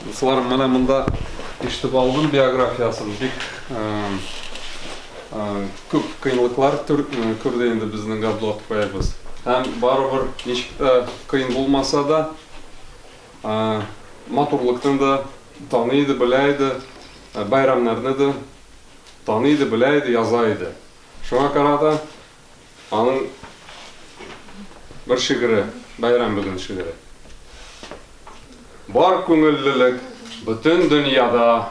Дусларым, менә монда ишетеп алдым биографиясын. Бик Күп кыенлыклар күрде инде безнең Габдулла тукаебыз. Һәм барыбер, ничек тә кыен булмаса да, матурлыкны да таный иде, белә иде, бәйрәмнәрне дә таный иде, белә иде, яза иде. Шуңа карата аның бер шигыре, бәйрәм бүген шигыре. Бар күңеллелек бөтен дөньяда.